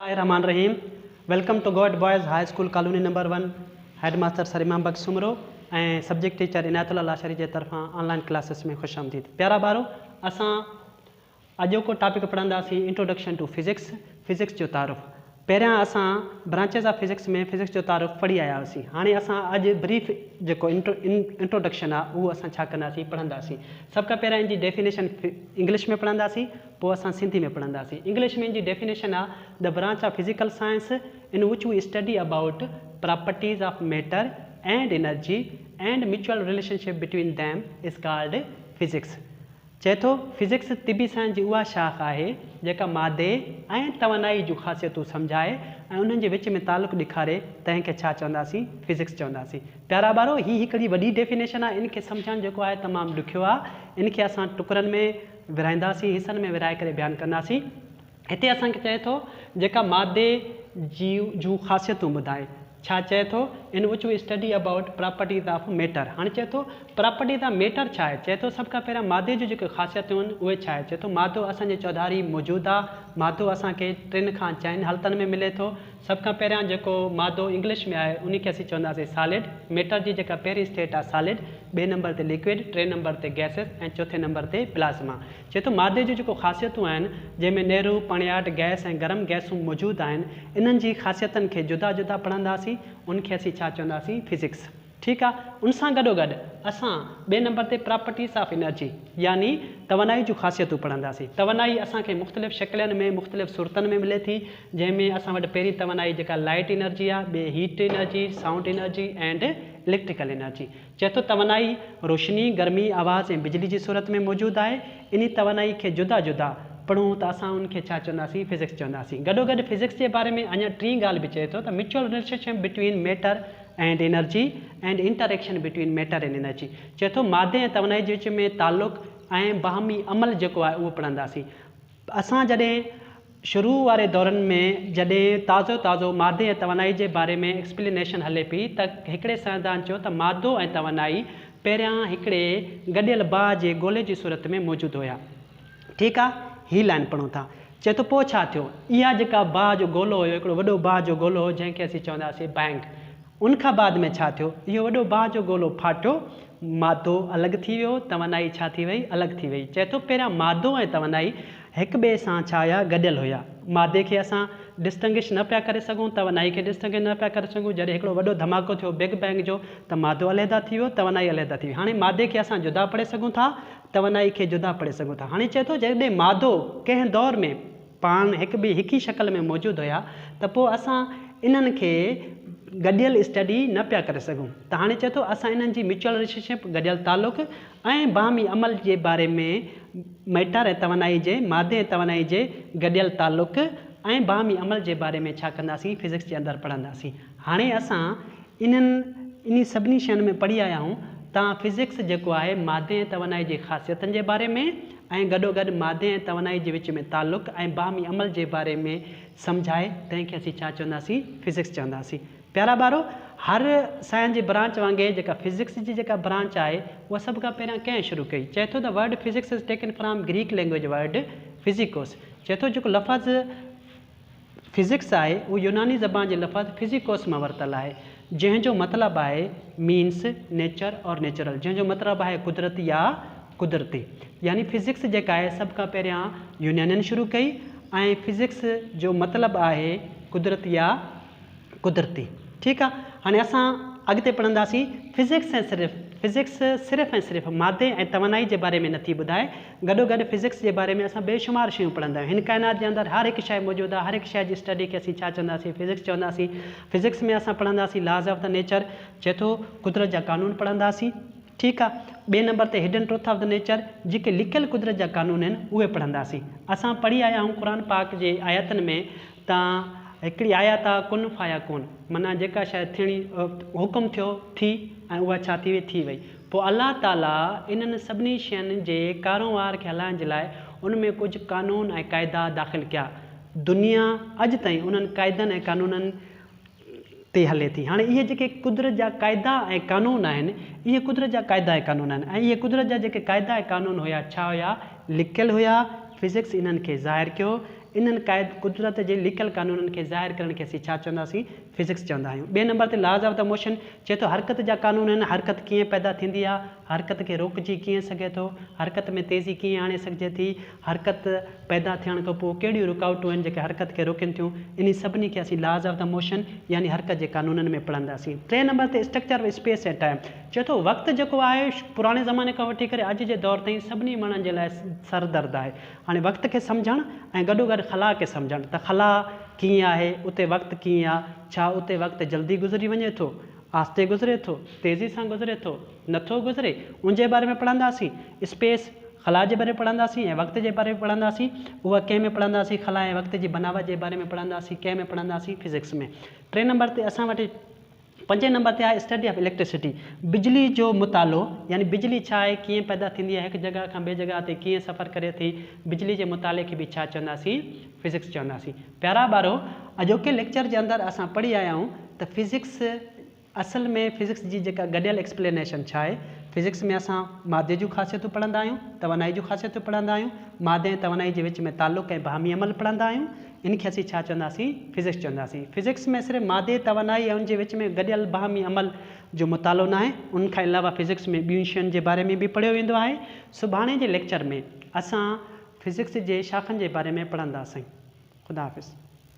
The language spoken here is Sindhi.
الله الرحمان الرحيم welcome to government boys high school colony number one headmaster sir Imam Bakhsh Soomro ۽ subject teacher Inayatullah Lashari جي طرفان آن لائن ڪلاسز ۾ خوش آمديد پيارا ٻارو اسان اڄوڪو ٽاپڪ پڙهنداسين انٽروڊڪشن ٽو فزڪس فزڪس جو تعارف پهريان اسان برانچز آف فزڪس ۾ فزڪس جو تعارف پڙهي آيا هئاسين هاڻي اسان اڄ بريف جيڪو انٽروڊڪشن آهي اهو اسان ڇا ڪنداسين پڙهنداسين سڀ کان پهريان ان جي ڊيفينيشن انگلش ۾ پڙهنداسين پوء اسان سنڌي ۾ پڙهنداسين. انگلش ۾ ان جي ڊيفينيشن آ، The Branch of Physical Science in which we study about properties of matter and energy and mutual relationship between them is called physics. چئي ٿو، فزڪس طبي سائنس جي اها شاخ آهي، جيڪا مادي ۽ توانائي جون خاصيتون سمجهائي ۽ انهن جي وچ ۾ تعلق ڏيکاري، تنهن کي ڇا چونداسين؟ فزڪس چونداسين. پيارا ٻارو! هي هڪڙي وڏي ڊيفينيشن آ، ان کي سمجهڻ جيڪو آهي تمام ڏکيو آ. ان کي اسان ٽڪرن ۾. ورهائينداسين، حصن ۾ ورهائي ڪري بيان ڪنداسين. هتي اسان کي چئي ٿو جيڪا مادي جي جون خاصيتون ٻڌائي. ڇا چئي ٿو in which we study about properties of matter. هاڻي چئي ٿو پراپرٽيز آف ميٽر ڇا آهي؟ چئي ٿو سڀ کان پهريان مادي جون جيڪي خاصيتون آهن اهي ڇا آهي؟ چئي ٿو مادو اسان جي چوڌاري موجود آهي. مادو اسان کي ٽن کان چئن حالتن ۾ ملي ٿو. سڀ کان پهريان جيڪو مادو انگلش ۾ آهي انهي کي اسين چونداسين سالڊ ميٽر جي جيڪا پهرين اسٽيٽ آهي سالڊ، ٻئي نمبر تي ليڪوئڊ، ٽئين نمبر تي گئسز ۽ چوٿين نمبر تي پلازما. چئي ٿو مادي جون جيڪو خاصيتون آهن جنهن ۾ نيرو، پڻياٽ، گئس ۽ گرم گئسون موجود آهن انهن جي خاصيتن کي جدا جدا پڙهنداسين انهن کي اسين ڇا چونداسين فزڪس. ٺيڪ آ، ان سان گڏوگڏ اسان ٻئي نمبر تي پراپرٽيز آف انرجي يعني توانائي جون خاصيتون پڙهنداسين. توانائي اسان کي مختلف شڪلين ۾ مختلف صورتن ۾ ملي ٿي جنهن ۾ اسان وٽ پهرين توانائي جيڪا لائيٽ انرجي آ، ٻي heat energy, sound energy and electrical energy. چئي ٿو توانائي روشني، گرمي، آواز ۽ بجلي جي صورت ۾ موجود آهي. انهي توانائي کي جدا جدا پڙهون ته اسان ان کي ڇا چونداسين فزڪس چونداسين. گڏوگڏ فزڪس جي باري ۾ اڃا ٽين ڳالهه به چئي ٿو ته mutual relationship between matter, and energy and interaction between matter and energy چئي ٿو مادي ۽ توانائي جي وچ ۾ تعلق ۽ باهمي عمل جيڪو آهي اهو پڙهنداسين اسان جڏهن شروع واري دورن ۾ جڏهن تازو تازو مادي ۽ توانائي جي باري ۾ ايڪسپلينيشن هلي پئي ته هڪڙي سائنسدان چيو ته مادو ۽ توانائي پهريان هڪڙي گڏيل باهه جي گولي جي صورت ۾ موجود هيا ٺيڪ آ، هي لائن پڙهون ٿا. چئي ٿو، پوء ڇا ٿيو؟ اها جيڪا باهه جو گولو هيو، هڪڙو وڏو باهه جو گولو هو، جنهن کي اسين چوندا هئاسين بئنگ. ان کان بعد ۾ ڇا ٿيو؟ اهو وڏو باهه جو گولو ڦاٽيو، مادو الڳ ٿي ويو، توانائي ڇا ٿي وئي؟ الڳ ٿي وئي. چئي ٿو، پهريان مادو ۽ توانائي هڪ ٻئي سان ڇا هيا؟ گڏيل هيا. مادي کي اسان ڊسٽنگش نه پيا ڪري سگهون، توانائي کي ڊسٽنگش نه پيا ڪري سگهون. جڏهن هڪڙو وڏو ڌماڪو ٿيو بگ بئنگ جو ته مادو علحده ٿي ويو، توانائي علحده ٿي وئي. هاڻي مادي کي اسان جدا پڙهي سگهون ٿا، توانائي کي جدا پڙهي سگهون ٿا. هاڻي چئي ٿو جڏهن مادو ڪنهن دور ۾ پاڻ هڪ ٻئي هڪ ئي شڪل ۾ موجود هيا ته پوء اسان انهن کي گڏيل اسٽڊي نه پيا ڪري سگهون ته هاڻي چئي ٿو اسان انهن جي ميچوئل رليشن شپ، گڏيل تعلق ۽ باهمي عمل جي باري ۾ مئٽر ۽ توانائي جي، مادي ۽ توانائي جي گڏيل تعلق ۽ باهمي عمل جي باري ۾ ڇا ڪنداسين فزڪس جي اندر پڙهنداسين. هاڻي اسان. انهن انهي سڀني شين ۾ پڙهي آيا آهيون ته فزڪس جيڪو آهي مادي ۽ توانائي جي خاصيتن جي باري ۾ ۽ گڏوگڏ مادي ۽ توانائي جي وچ ۾ تعلق ۽ باهمي عمل جي باري ۾ سمجهائي تنهن کي اسين ڇا چونداسين فزڪس چونداسين پيارا ٻارو هر سائنس جي برانچ وانگي جيڪا فزڪس جي جيڪا برانچ آهي اها سڀ کان پهريان ڪنهن شروع ڪئي چئي ٿو ته word physics is taken from Greek language word physikos چئي ٿو جيڪو لفظ فزڪس آهي، اهو يوناني زبان جي لفظ Physicos مان ورتل آهي، جنهن جو مطلب آهي Means، Nature اور Natural جنهن جو مطلب آهي قدرت يا قدرتي. يعني فزڪس جيڪا آهي سڀ کان پهريان يونانين شروع ڪئي ۽ فزڪس جو مطلب آهي قدرت يا قدرتي. ٺيڪ آ هاڻي اسان اڳتي پڙهنداسين فزڪس ۽ صرف فزڪس صرف ۽ صرف مادي ۽ توانائي جي باري ۾ نٿي ٻڌائي، گڏو گڏ فزڪس جي باري ۾ اسان بي شمار شيون پڙهندا آهيون هن ڪائنات جي اندر هر هڪ شيء موجود آهي هر هڪ شيء جي اسٽڊي کي اسين ڇا چونداسين فزڪس چونداسين فزڪس ۾ اسان پڙهنداسين لاز آف دا نيچر چئي ٿو قدرت جا قانون پڙهنداسين ٺيڪ آهي ٻئي نمبر تي hidden truth of the nature جيڪي لڪيل قدرت جا قانون آهن اهي پڙهنداسين اسان پڙهي آيا آهيون قرآن پاڪ جي آيتن ۾ تان هڪڙي آيا تان ڪن فايا ڪون معنيٰ جيڪا شيء ٿيڻي حڪم ٿيو ٿي ۽ اها ڇا ٿي وئي ٿي وئي پوء الله تعاليٰ انهن سڀني شين جي ڪارونهار کي هلائڻ جي لاء ان ۾ ڪجهه قانون ۽ قاعدا داخل ڪيا دنيا اڄ تائين انهن قاعدن ۽ قانونن تي هلي ٿي. هاڻي اهي جيڪي قدرت جا قاعدا ۽ قانون آهن، اهي قدرت جا قاعدا ۽ قانون آهن ۽ اهي قدرت جا جيڪي قاعدا ۽ قانون هيا، ڇا هيا؟ لڪل هيا. فزڪس انهن کي ظاهر ڪيو. انهن قاعد قدرت جي لڪل قانونن کي ظاهر ڪرڻ کي اسين ڇا چونداسين؟ فزڪس چوندا آهيون. ٻئي نمبر تي Laws of the Motion چئي ٿو حرڪت جا قانون آهن، حرڪت ڪيئن پيدا ٿيندي آهي؟ حرڪت کي روڪجي ڪيئن سگهي ٿو؟ حرڪت ۾ تيزي ڪيئن آڻي سگهجي ٿي؟ حرڪت پيدا ٿيڻ کان پوء ڪهڙيون رڪاوٽون آهن جيڪي حرڪت کي روڪين ٿيون؟ انهي سڀني کي اسين Laws of the Motion يعني حرڪت جي قانونن ۾ پڙهنداسين. ٽئين نمبر تي Structure of Space and Time چئي ٿو وقت جيڪو آهي پراڻي زماني کان وٺي ڪري اڄ جي دور تائين سڀني ماڻهن جي لاء سر درد آهي. هاڻي وقت کي سمجهڻ ۽ گڏو گڏ خلا کي سمجهڻ ته خلا ڪيئن آهي، اتي وقت ڪيئن آ، ڇا اتي وقت جلدي گذري وڃي ٿو؟ آھستي گذري ٿو، تيزي سان گذري ٿو، نه ٿو گذري، ان جي باري ۾ پڙھنداسين، اسپيس، خلا، جي باري ۾ پڙھنداسين ۽ وقت جي باري ۾ پڙھنداسين، اھو ڪنھن ۾ پڙھنداسين، خلا ۽ وقت جي بناوت جي باري ۾ پڙھنداسين، ڪنھن ۾ پڙھنداسين، فزڪس ۾. ٽئين نمبر تي اسان وٽ پنجين نمبر تي آھي اسٽڊي آف اليڪٽرسٽي، بجلي جو مطالعو، يعني بجلي ڇا آھي، ڪيئن پيدا ٿيندي آھي، ھڪ جڳھه کان ٻي جڳھه تي ڪيئن سفر ڪري ٿي، بجلي جي مطالعي کي به ڇا چونداسين، فزڪس چونداسين. پيارا ٻارو! اڄوڪي ليڪچر جي اندر اسان پڙهي آيا آهيون ته فزڪس اصل ۾ فزڪس جي جيڪا گڏيل ايڪسپلينيشن ڇا آهي؟ فزڪس ۾ اسان مادي جون خاصيتون پڙهندا آهيون، توانائي جون خاصيتون پڙهندا آهيون، مادي ۽ توانائي جي وچ ۾ تعلق ۽ باهمي عمل پڙهندا آهيون، ان کي اسين ڇا چونداسين؟ فزڪس چونداسين. فزڪس ۾ صرف مادي، توانائي ۽ ان جي وچ ۾ گڏيل باهمي عمل جو مطالعو ناهي، ان کان علاوه فزڪس ۾ ٻين شين جي باري ۾ به پڙهيو ويندو آهي. سڀاڻي جي ليڪچر ۾. اسان فزڪس جي شاخن جي باري ۾ پڙهندا سائين خدا حافظ.